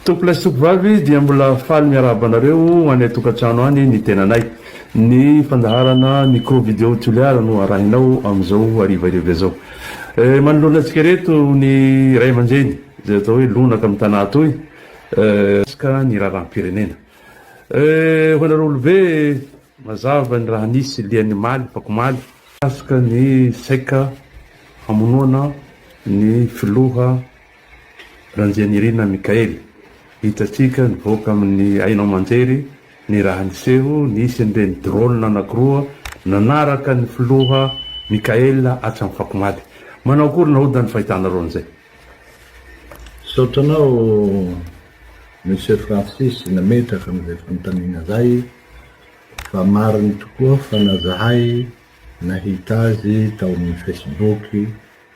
Tompolay sy tompovavy dia mbola faly miarahaba anareo any an-tokantrano any ny tenanay. Ny fandaharana Micro Video Toliara no arahinao amin'izao harivariva izao. Eh, manoloana antsika ireto ny ray aman-dreny izay atao hoe lonaka amin'ny tanà atoy mikasika ny raharaham-pirenena. Eh, ho anareo olobe, mazava ny raha nisy lian'ny omaly, afakomaly, mikasika ny saika hamonoana ny filoha Randrianirina Mickaël, Hitantsika nivoaka amin'ny haino aman-jery ny raha niseho, nisy an'ireny drone anankiroa nanaraka ny filoha Mickaël hatramin'ny fakomaly. Manao akory naoda ny fahitanareo an'izay? Misaotra anao Monsieur Francis nametraka an'izay fanontaniana izay fa mariny tokoa fa na zahay nahita azy tao amin'ny Facebook,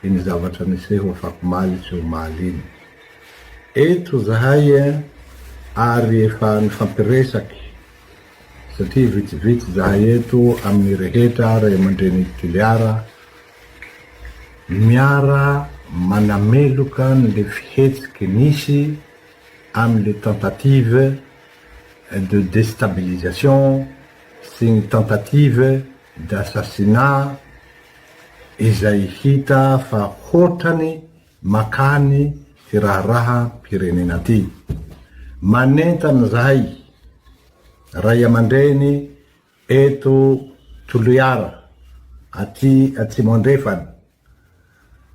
iny zavatra niseho afakomaly sy omaly iny. Eto zahay eh ary efa nifampiresaky satria vitsivitsy zahay eto amin'ny rehetra ray aman-drenin'i Toliara miara manameloka an'le fihetsiky nisy amin'le tentative de destabilisation sy ny tentative d'assassinat izay hita fa hotrany makany ty raharaham-pirenena ty. Manentana zahay Ray aman-dreny eto Toliara aty Atsimo Andrefana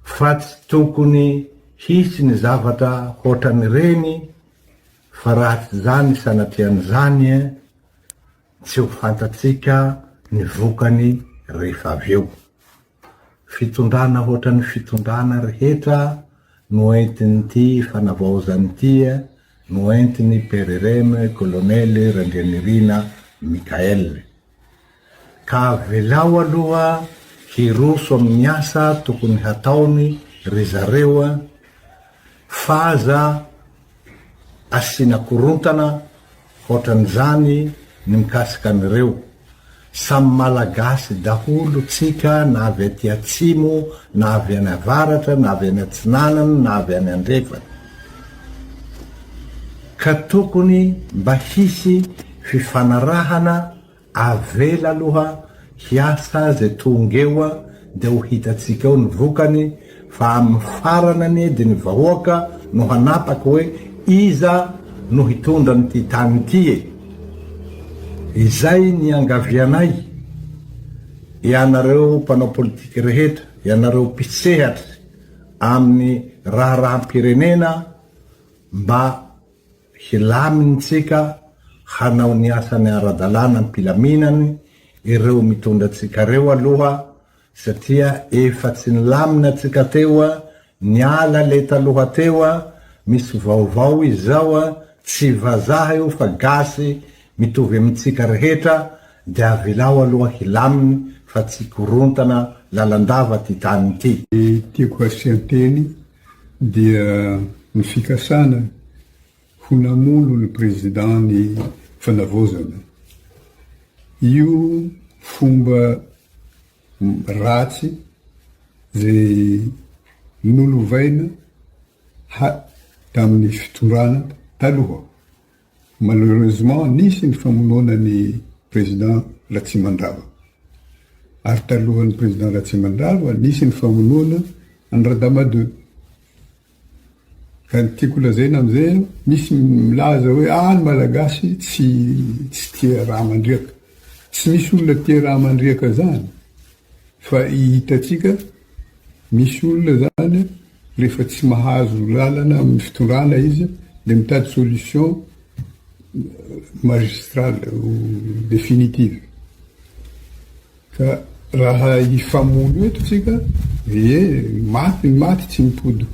fa tsy tokony hisy ny zavatra hotran'ireny fa raha tsy zany sanatria ny zany eh, Tsy ho fantatsika ny vokany rehefa avy eo. Fitondrana hoatran'ny fitondrana rehetra no entin'ity fanavaozana ity no entin'i PRRM Kolonely Randrianirina Michael. Ka avelao aloha hiroso amin'ny asa tokony hataony ry zareo fa aza Asiana korontana hoatran'izany ny mikasika an'ireo. Samy Malagasy daholo tsika na avy aty atsimo na avy any avaratra na avy any atsinanana na avy any andrefana. Ka tokony mba hisy fifanarahana. Avela aloha hiasa azy tonga eo dia ho hitantsika eo ny vokany fa amin'ny farany anie dia ny vahoaka no hanapaka hoe iza no hitondra an'ity tany ity e! Izay ny iangavianay ianareo mpanao politika rehetra, ianareo mpisehatry amin'ny raharaham-pirenena mba Hilamintsika hanao ny asany ara-dalàna am-pilaminany ireo mitondra antsika ireo aloha satria efa tsy nilamina tsika teo, niala le taloha teo, misy vaovao izao, tsy vazaha io fa gasy mitovy amintsika rehetra de avelao aloha hilaminy fa tsy korontana lalandava ty tany ty. Tiako asian-teny dia ny fikasana ho namono ny Président ny Fanavaozana. Io fomba ratsy izay nolovaina tamin'ny fitondrana taloha Malheureusement nisy ny famonoana ny Président Ratsimandrava. Ary talohan'ny Président Ratsimandrava nisy ny famonoana an'i Radama deux. Ka ny tiako lazaina amin'izay an, misy milaza hoe ah ny Malagasy tsy tsy tia raha mandriaka. Tsy misy olona tia raha mandriaka zany fa i hitantsika. Misy olona izany rehefa tsy mahazo lalana amin'ny fitondrana izy dia mitady solution magistrale ou définitive. Ka raha hifamono eto tsika dia maty ny maty tsy mipody.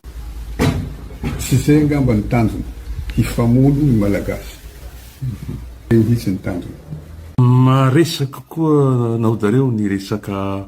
Tsy izay angamba ny tanjona, hifamono ny Malagasy. Izay mihitsy ny tanjona. Maresaka koa naodareo ny resaka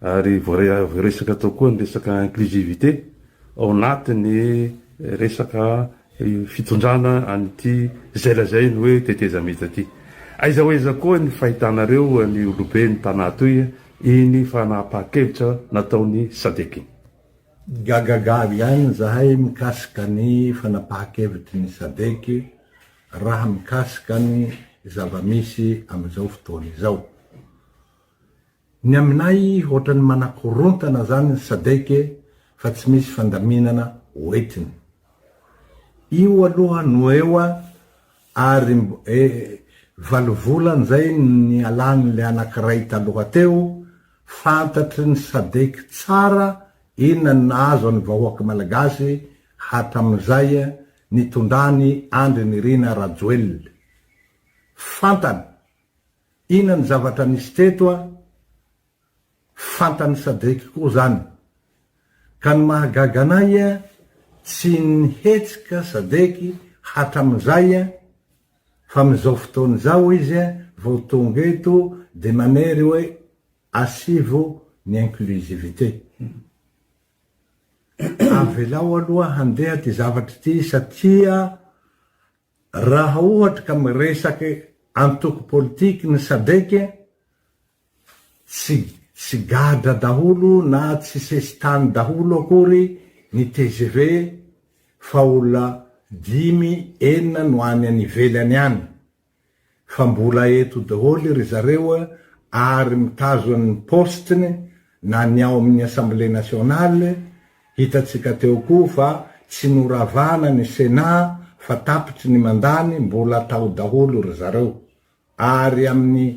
Ary voaresaka tao koa ny resaka inclusivité ao anatin'ny resaka fitondrana an'ity izay lazainy hoe tetezamita ity. Aiza ho aiza koa ny fahitanareo ny olobe ny tana toy iny fanapahan-kevitra nataon'ny Sadec iny? Gagagaga ihany izahay mikasika ny fanapahan-kevitry ny Sadec raha mikasika ny zava-misy amin'izao fotoana izao. Ny aminay ohatran'ny manakorontana zany ny sadec e fa tsy misy fandaminana hoetiny. Io aloha no eo a ary e valo volana zay nialany le anakiray taloha teo, fantatry ny sadec tsara inona ny nahazo an'ny vahoaka malagasy hatramin'izay nitondrany Andry Nirina Rajoelina. Fantany. Ina ny zavatra nisy teto a? Fantan'i Sadrick koa zany. Ka ny mahagaga anay a, tsy nihetsika Sadrick hatramin'izay a, fa amin'izao fotoana izao izy a, vao tonga eto dia manery hoe asivo ny inclusivité. Avelao aloha handeha ity zavatra ity satria Raha ohatra ka miresaka antoko politique ny sadec, tsy tsy gadra daholo na tsy sesitany daholo akory ny tgv fa olona dimy enina no any any ivelany any fa mbola eto daholo ry zareo ary mitazona ny postiny na ny ao amin'ny Assemblée Nationale, hitantsika teo koa fa tsy noravana ny Sénat fa tapitry ny mandany mbola tao daholo ry zareo ary amin'ny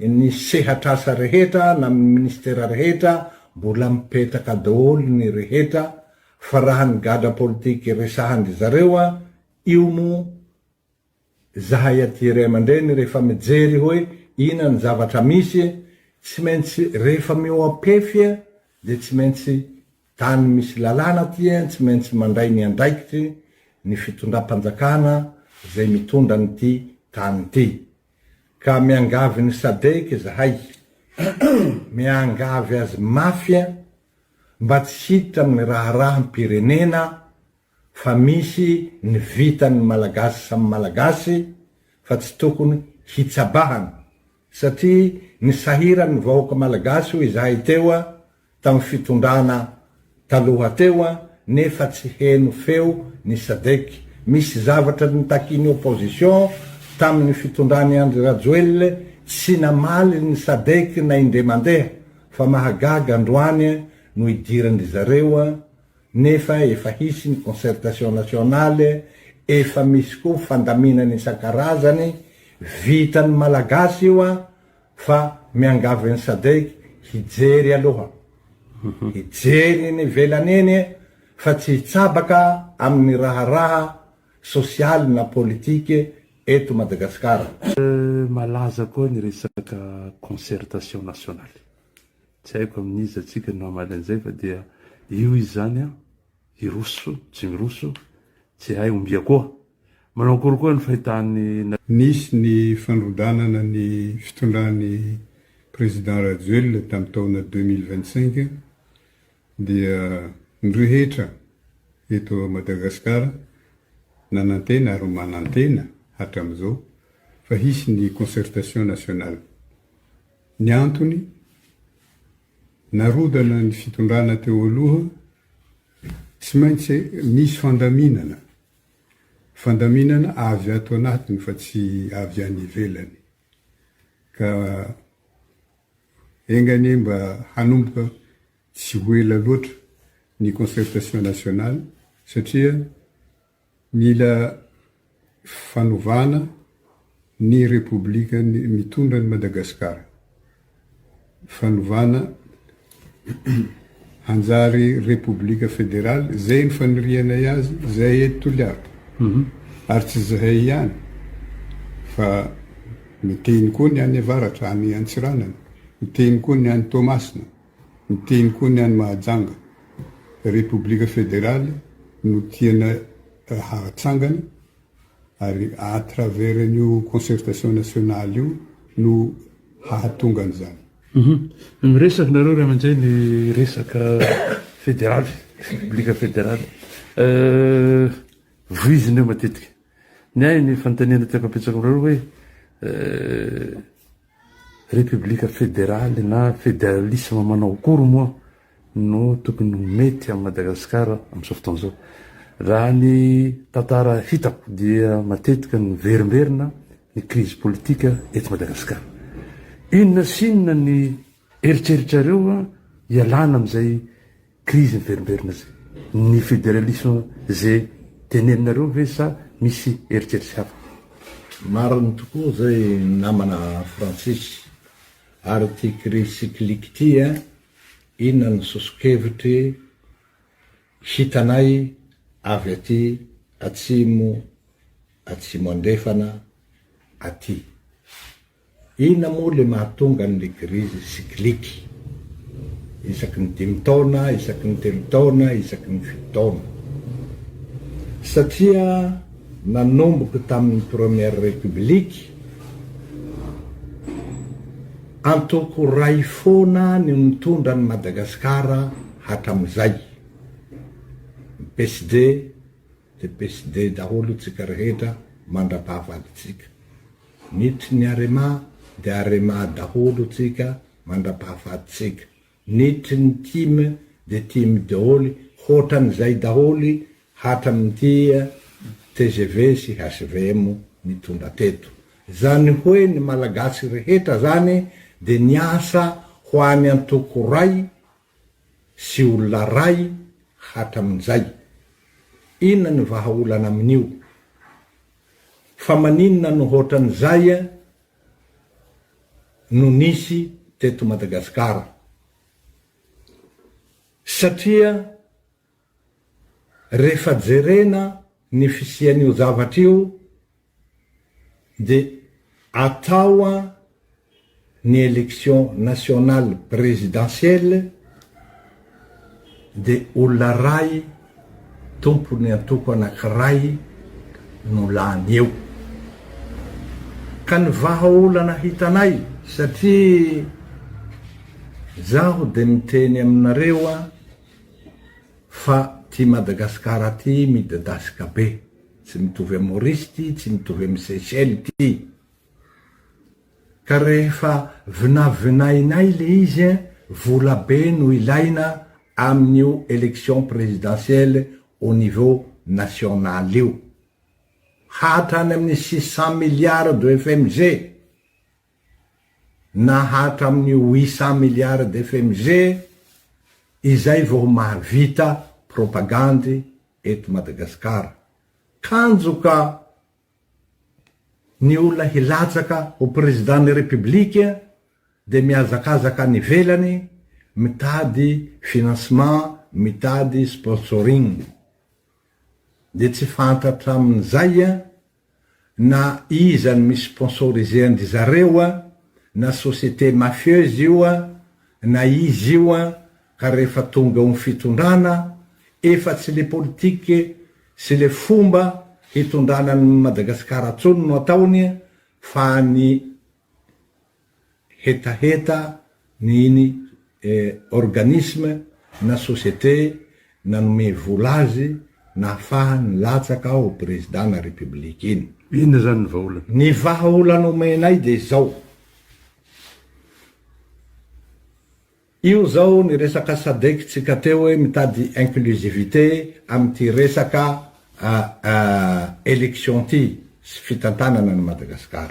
ny sehatr'asa rehetra na amin'ny ministera rehetra mbola mipetraka daholo ny rehetra fa raha ny gadra politique resahan-dry zareo io moa Zahay aty ray aman-dreny rehefa mijery hoe ina ny zavatra misy e, tsy maintsy rehefa mihoa-pefy e dia tsy maintsy tany misy lalàna aty e, tsy maintsy mandray ny andraikitry ny fitondram-panjakana izay mitondra an'ity tany ity. Ka miangavy ny Sadec izahay, miangavy azy mafy mba tsy hiditra amin'ny raharaham-pirenena fa misy ny vitan'ny Malagasy samy Malagasy fa tsy tokony hitsabahana satria ny sahiran'ny vahoaka Malagasy hoy izahay teo tamin'ny fitondrana taloha teo nefa tsy heno feo ny Sadec, misy zavatra nitakian'ny opposition tamin'ny fitondran'i Andry Rajoelina tsy namaly ny Sadec na indray mandeha fa mahagaga androany no idiran-dry zareo nefa efa hisy ny concertation nationale, efa misy koa fandaminana isan-karazany, vitan'ny Malagasy io an, fa miangavy an'i Sadec hijery aloha, hijery eny ivelany eny e, fa tsy hitsabaka amin'ny raharaha sosialy na politique eto Madagasikara. Malaza koa ny resaka concertation nationale. Tsy haiko amin'iza tsika no hamaly an'izay fa dia io izy izany an! Hiroso, tsy miroso, tsy hay ombia koa! Manao akory koa ny fahitàn'i. Nisy ny fandrodanana ny fitondran'i Président Rajoelina tamin'ny taona deux mille vingt-cinq dia ny rehetra eto Madagascar nanantena ary manantena hatramin'izao fa hisy ny concertation nationale. Ny antony, narodana ny fitondrana teo aloha, tsy maintsy misy fandaminana, fandaminana avy ato anatiny fa tsy avy any ivelany, ka enga anie mba hanomboka tsy ho ela loatra ny concertation nationale satria, Mila fanovana ny repoblika mitondra an'i Madagasikara. Fanovana hanjary repoblika federaly, izay ny fanirianay azy, izahay eto Toliara. Ary tsy izahay ihany fa miteny koa ny any avaratra, any Antsiranana, miteny koa ny any Toamasina. Miteny koa ny any Mahajanga. Repoblika federaly no tiana hahatsangana ary à travers an'io concertation nationale io no hahatonga an'izany. Miresaka nareo ray aman-dreny resaka federaly, repoblika federaly. Voizina eo matetika. Ny ahy ny fanontaniana tiako apetsako aminareo hoe Repoblika federaly na federalisma manao akory moa no tokony ho mety amin'i Madagasikara amin'izao fotoana izao? Raha ny tantara hitako dia matetika niverimberina ny krizy politika eto Madagasikara. Inona sy inona ny eritreritrareo hialana amin'izay Krizy miverimberina zay. Ny federalisme ze teneninareo ve sa misy eritreritra hafa? Marina tokoa izay namana Francis. Ary ity crise cyclique ity an, inona ny sosokevitry hitanay avy aty atsimo atsimo andrefana aty. Inona moa le mahatonga an le grise cyclique isaky ny dimy taona, isaky ny telo taona, isaky ny fito taona? Satria nanomboka tamin'ny première république, antoko iray foana no nitondra an'i Madagasikara hatramin'izay, ny PSD de PSD daholo tsika rehetra mandrapaha faditsika. Nitry ny arema de arema daholo tsika mandrapaha faditsika. Nitry ny tim de tim daholo hotran zay daholo hatram ty tgv sy hvm nitondra teto. Zany hoe ny malagasy rehetra zany de niasa ho any antoko ray sy olona ray hatramin'izay. Inona ny vahaolana amin'io? Fa maninona no hoatran'izay no nisy teto Madagasikara? Satria Rehefa jerena ny fisian'io zavatra io dia atao an ny election nationale présidentielle dia olona ray tompon'ny antoko anankiray no lany eo ka ny vahaolana hitanay satria izaho dia miteny aminareo an Fa ty Madagascar ty midadasika be, tsy mitovy am Maurice ty, tsy mitovy am Seychelles ty, ka rehefa vinavinainay le izy eh, vola be no ilaina amin io election presidentielle au niveau national io, hatrany amin six cent milliards de FMG, na hatramin'ny huit cent milliards d'FMG, izay vao mahavita propagandy eto Madagasikara. Kanjo ka ny olona hilatsaka ho Président-n'ny République dia mihazakazaka any ivelany mitady financement, mitady sponsoring. Dia tsy fantatra amin'izay na iza no mi sponsoriser an-dry zareo a, na société mafieuse io a, na iza io a, ka rehefa tonga eo ny fitondrana, efa tsy le politique sy le fomba hitondrana an'i Madagasikara tsony no ataony fa ny hetaheta ny iny organisme na société nanome vola azy nahafahany nilatsaka ho président na république iny. Inona izany ny vahaolana? Ny vahaolana omenay dia izao. Io zao ny resaka sadec tsika teo hoe mitady inclusivité amin'ity resaka élection ty sy fitantanana an'i Madagascar.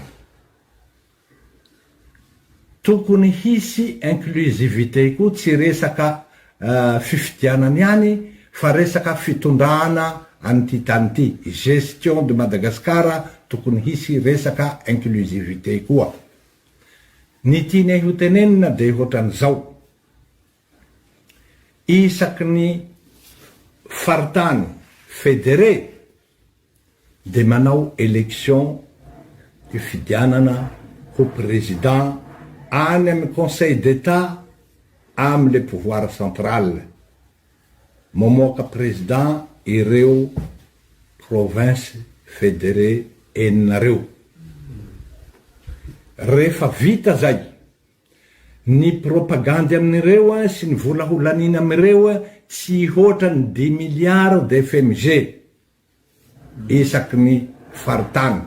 Tokony hisy inclusivité koa tsy resaka fifidianana ihany fa resaka fitondrana an'ity tany ity, gestion de Madagascar tokony hisy resaka inclusivité koa. Ny tianay ho tenenina dia ohatran'izao, isaky ny faritany federé dia manao election hifidianana ho président any amin'ny conseil d'Etat amin'ilay pouvoir central. Mamoaka président ireo provinces fédérées enina reo. Rehefa vita zay, ny propagandy amin'ireo sy ny vola holanina amin'ireo tsy hoatra ny dimy milliards de fmg. isaky ny faritany.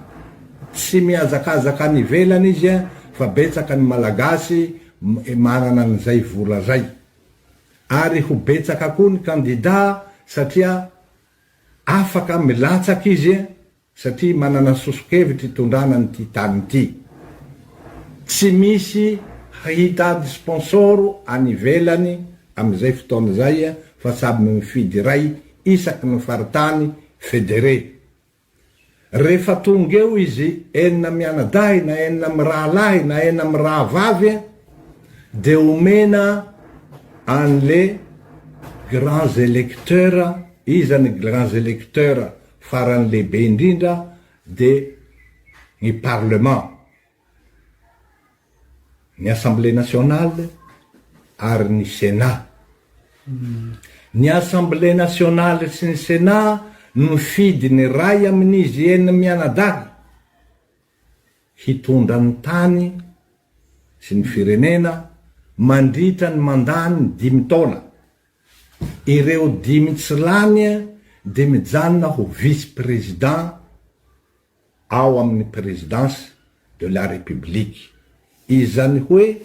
Tsy mihazakazaka any ivelany izy fa betsaka ny Malagasy manana an'izay vola izay. Ary ho betsaka koa ny kandida satria afaka milatsaka izy satria manana soso-kevitra hitondrana an'ity tany ity. Tsy misy hitady sponsor any ivelany amin'izay fotoana izay fa samy mifidy iray isaky ny faritany federé. Rehefa tonga eo izy enina mianadahy na enina mirahalahy na enina mirahavavy dia omena an'le grands électeurs, iza ny grands électeurs farany lehibe indrindra dia ny parlement ny Assemblée nationale ary ny Sénat. Ny Assemblée nationale sy ny Sénat no nifidy ny iray amin'izy enina mianadahy hitondra ny tany sy ny firenena mandritra ny mandat-ny dimy taona. Ireo dimy tsy lany dia mijanona ho vice-président. ao amin'ny Présidence de la République. Izany hoe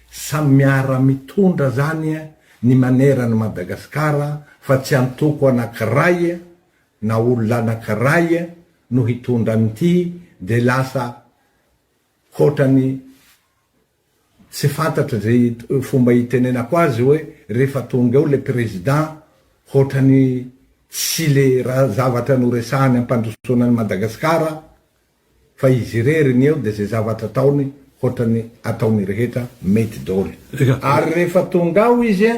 samy miara mitondra zany ny maneran'i Madagascar fa tsy antoko anakiray na olona anakiray no hitondra an'ity de lasa hotrany Tsy fantatro ze fomba hitenenako azy oe refa tonga eo le président hotrany tsy le raha zavatra noresahany ampandrosoana an'i Madagascar fa izy irery ny eo de ze zavatra ataony hotrany ataony rehetra mety doly ary refa tonga ao izy a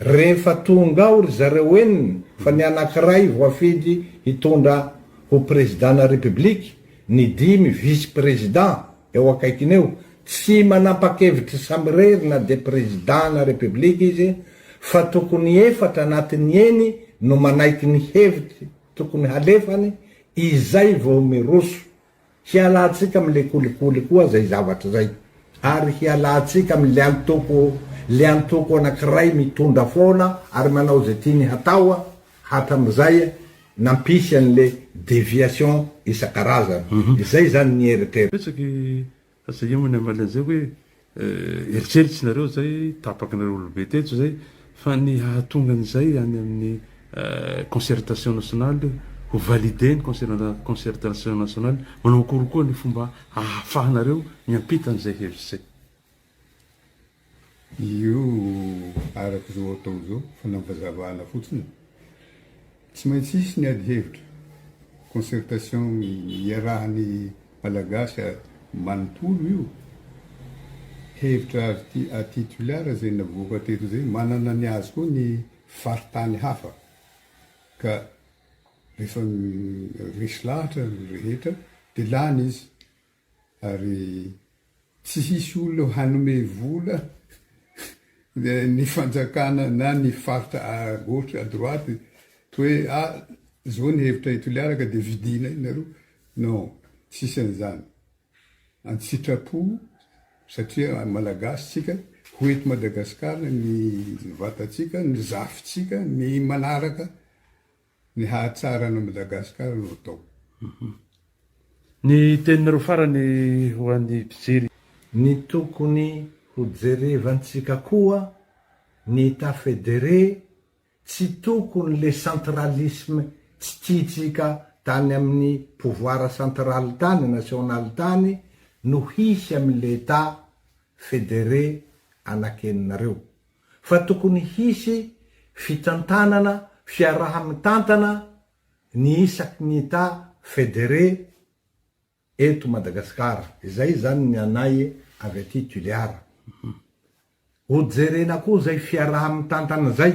refa tonga ao ry zareo enina fa ny anakiray voafidy hitondra ho président na république ny dimy vice président Eo akaikiny eo, tsy manampakevitry samirery na dia prezidana repiblika izy fa tokony efatra anatiny eny no manaiky ny hevitry tokony halefany izay vao miroso. Hialantsika amin le kolikoly koa zay zavatra zay ary hialantsika amin le antoko le antoko anakiray mitondra foana ary manao ze tiany hatao Hatramin'izay nampisy an'le deviation isan-karazany. Izay izany ny eritreritro. Betsaka e! Fa zay ihany no hamaly an'izay hoe eritreritry nareo izay tapakinareo olobe teto izay fa ny hahatonga an'izay any amin'ny concertation nationale ho valider ny concertation nationale manao akory koa ny fomba ahafahanareo miampita an'izay hevitra izay. Io araka izao atao izao, fanavazavana fotsiny. Tsy maintsy hisy ny adihevitra, concertation iarahan'ny Malagasy manontolo io. Hevitra aty Toliara izay navoaka teto izay, manana ny azy koa ny faritany hafa. Ka rehefa resy lahatra ny rehetra dia lany izy. Ary tsy hisy olona hanome vola ny fanjakana na ny faritra à gauche à droite hoe ah zao ny hevitra i Toliara ka dia vidiana io nareo, non tsisy an'izany, an-tsitrapo satria Malagasy tsika, ho eto Madagasikara ny vatantsika, ny zafintsika, ny manaraka. Ny hahatsara an'i Madagascar no atao. Ny teninareo farany ho an'ny mpijery. Ny tokony ho jerevantsika koa ny etat federé tsy tokony le centralisme tsy tiantsika tany amin'ny pouvoir central tany, national tany no hisy amin'ilay etat federé anakeninareo. fa tokony hisy fitantanana fiaraha-mitantana ny isaky ny Etat federé eto Madagasikara. Izay izany ny anay avy aty Tulear. Hojerena koa izay fiaraha-mitantana izay.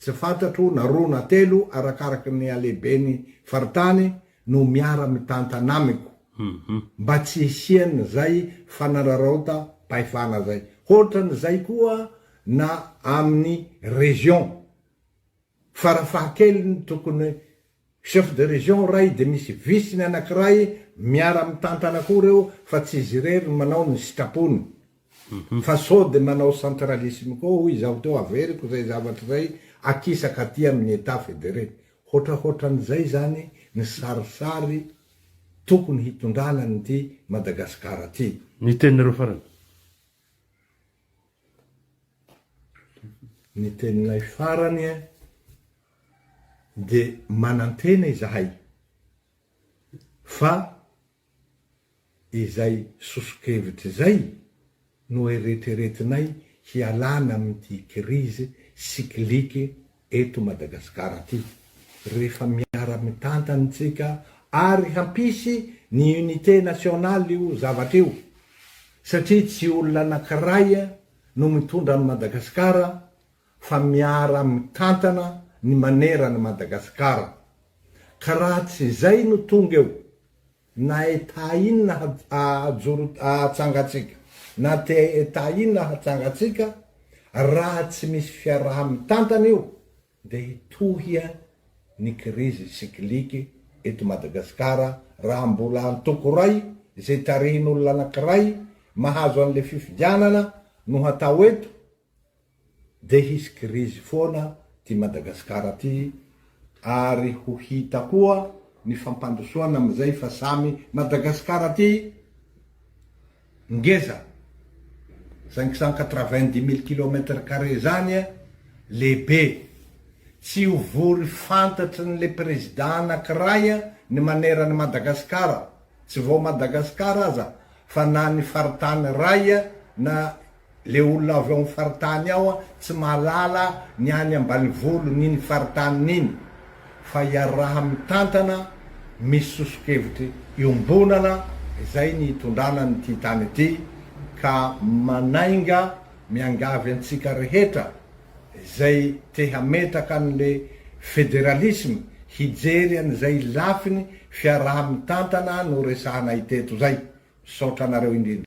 Tsy fantatro na roa na telo arakaraka ny halehibeny faritany no miara mitantana amiko mba tsy hisian zay fanararaota pahefana zay hotran zay koa na aminy region farafahakeliny tokony Chef de région iray dia misy vice-ny anankiray miara mitantana koa ireo fa tsy izy irery no manao ny sitrapony fa sao dia manao centralisme koa hoy izaho teo averiko izay zavatra izay akisaka aty amin'ny Etat fédéré. Hoatrahoatran'izay izany ny sarisary tokony hitondrana an'ity Madagasikara ity. Ny teninareo farany? Ny teninay farany dia manantena izahay fa izay soso-kevitra izay no eretreretinay hialana amin'ity kirizy sikilike eto Madagasikara ity rehefa miara-mitantana isika ary hampisy ny unité nationale io zavatra io satria tsy olona anankiray no mitondra an'i Madagasikara fa miara mitantana ny manera an'i Madagasikara ka raha tsy izay no tonga eo na Etat inona hajoro hatsangatsika na Etat inona hatsangatsika raha tsy misy fiaraha mitantana io dia hitohia ny kirizy sikiliky eto Madagasikara raha mbola antoko iray izay tarihin'olona anakiray mahazo an'ilay fifidianana no hatao eto Dia hisy krizy foana ty Madagasikara ty ary ho hita koa ny fampandrosoana amin'izay fa samy Madagasikara ty ngeza cinq cent quatre-vingt-dix mille kilomètre carré zany lehibe tsy ho vory fantatry ny le prezida anakiray ny maneran'i Madagasikara tsy vao Madagasikara aza fa na ny faritany ray na Le olona avy ao am faritany ao tsy mahalala ny any ambanivolo ny ny faritany niny fa iaraha mitantana misy sosokevitry iombonana izay ny itondrana ny ty tany ity ka manainga miangavy antsika rehetra izay te hametraka an le federalisme hijery an izay lafiny fiaraha mitantana no resahanay teto zay misaotra anareo indrindra.